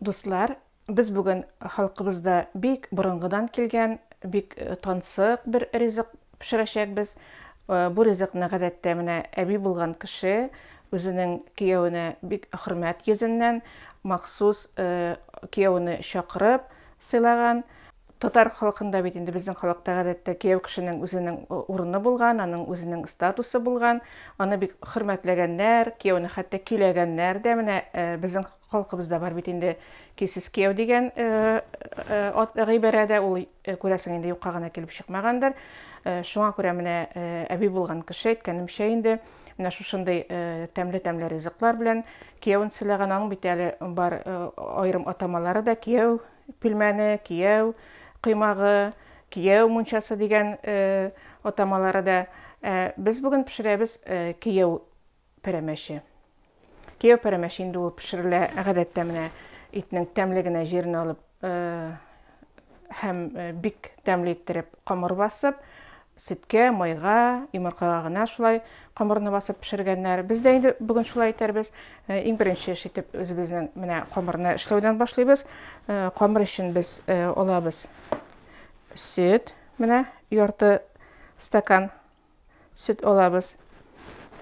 Дуслар, без бүген халкыбызда бик борынгыдан килгән, бик тансык бер ризык пешерәчәкбез. Бу ризыкны гадәттә менә әби булган кеше үзенең кияүенә бик хөрмәт йөзеннән махсус кияүне чакырып сыйлаган. Татар халкында бит инде безнең халыкта гадәттә кияү кешенең үзенең урыны булган, аның үзенең статусы булган, аны бик хөрмәтләгәннәр, кияүне хәтта көйләгәннәр дә, менә безнең Халкыбызда бар бит инде көйсез кияү дигән гыйбарә дә, ул, күрәсең, инде юкка гына килеп чыкмагандыр. Шуңа күрә менә әби булган кеше, әйткәнемчә инде, менә шушындый тәмле-тәмле ризыклар белән киявен сыйлаган. Аның бит әле бар аерым атамалары да, кияү пилмәне, кияү коймагы, кияү мунчасы дигән атамалары да. Без бүген пешерәбез кияү пәрәмәче. Кияү пәрәмәче инде ул пешерелә гадәттә менә итнең тәмле генә җирен алып һәм бик тәмле иттереп камыр басып, сөткә, майга, йомыркага гына шулай камырны басып пешергәннәр. Без дә инде бүген шулай итәрбез. Иң беренче эш итеп үзебезнең менә камырны эшләүдән башлыйбыз. Камыр өчен без алабыз сөт, менә ярты стакан Сөт алабыз.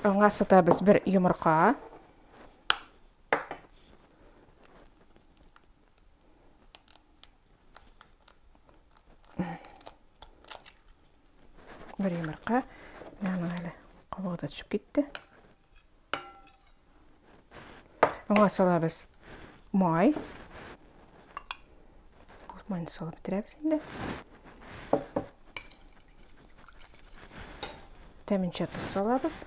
Аңа сатабыз бер йомырка. Бер йомырка. Менә әле кабыгы да төшеп китте. Аңа салабыз май. Майны салып бетерәбез инде. Тәминчә тоз салабыз.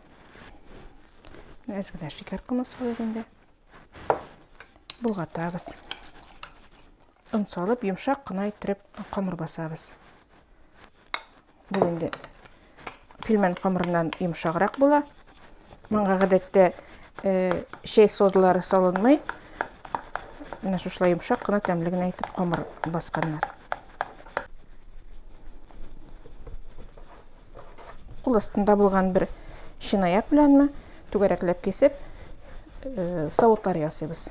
Әз генә шикәр комы салып инде. Болгатабыз. Он салып, йомшак кына иттереп камыр басабыз. Бу инде пилмән камырыннан йомшаграк була. Моңа гадәттә э, чәй содалары салынмый. Менә шушылай йомшак кына тәмле генә итеп камыр басканнар. Кул астында булган бер шинаяк беләнме түгәрәкләп кисеп, э, савытлар ясыйбыз.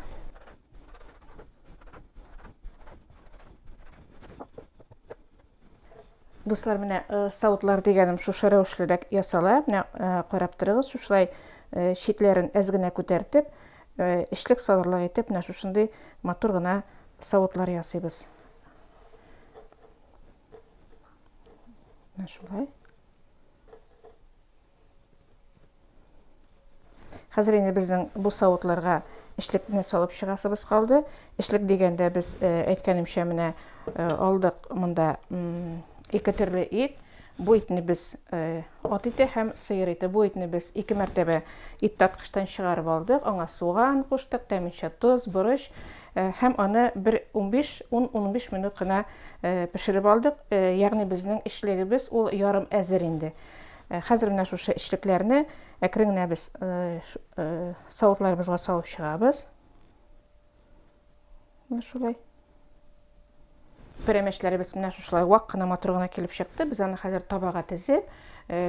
Дуслар, менә э, саутлар дигәнем шушы рәвешлерәк ясала. Менә э, карап торыгыз, шушылай э, читләрен әз генә күтәртеп, эчлек салырлык итеп, менә шушындый матур гына саутлар ясыйбыз. Менә шулай. Хәзер инде безнең бу савытларга эшлекне салып чыгасыбыз калды. Эшлек дигәндә без э, әйткәнемчә менә э, алдык монда ике төрле ит. Бу итне без э, ат ите һәм сыер ите. Бу итне без ике мәртәбә ит таткычтан чыгарып алдык. Аңа суган куштык, тәминчә тоз, борыч һәм аны бер 15-10-15 минут кына пешереп алдык. Ягъни безнең эшлегебез ул ярым әзер инде. Ә хәзер менә шушы эчлекләрне әкрен генә без савытларыбызга салып чыгабыз. Менә шулай. Пәрәмәчләребез менә шушылай вак кына матур гына килеп чыкты. Без аны хәзер табага тезеп,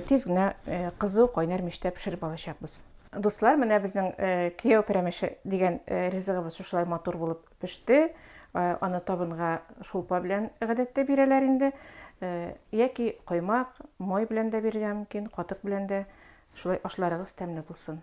тиз генә кызу кайнар мичтә пешереп алачакбыз. Дуслар, менә безнең кияү пәрәмәче дигән ризыгыбыз шушылай матур булып Пеште, аны табынга шулпа белән гадәттә бирәләр инде. Яки коймак, май белән дә бирергә мөмкин, катык белән дә. Шулай ашларыгыз тәмле булсын.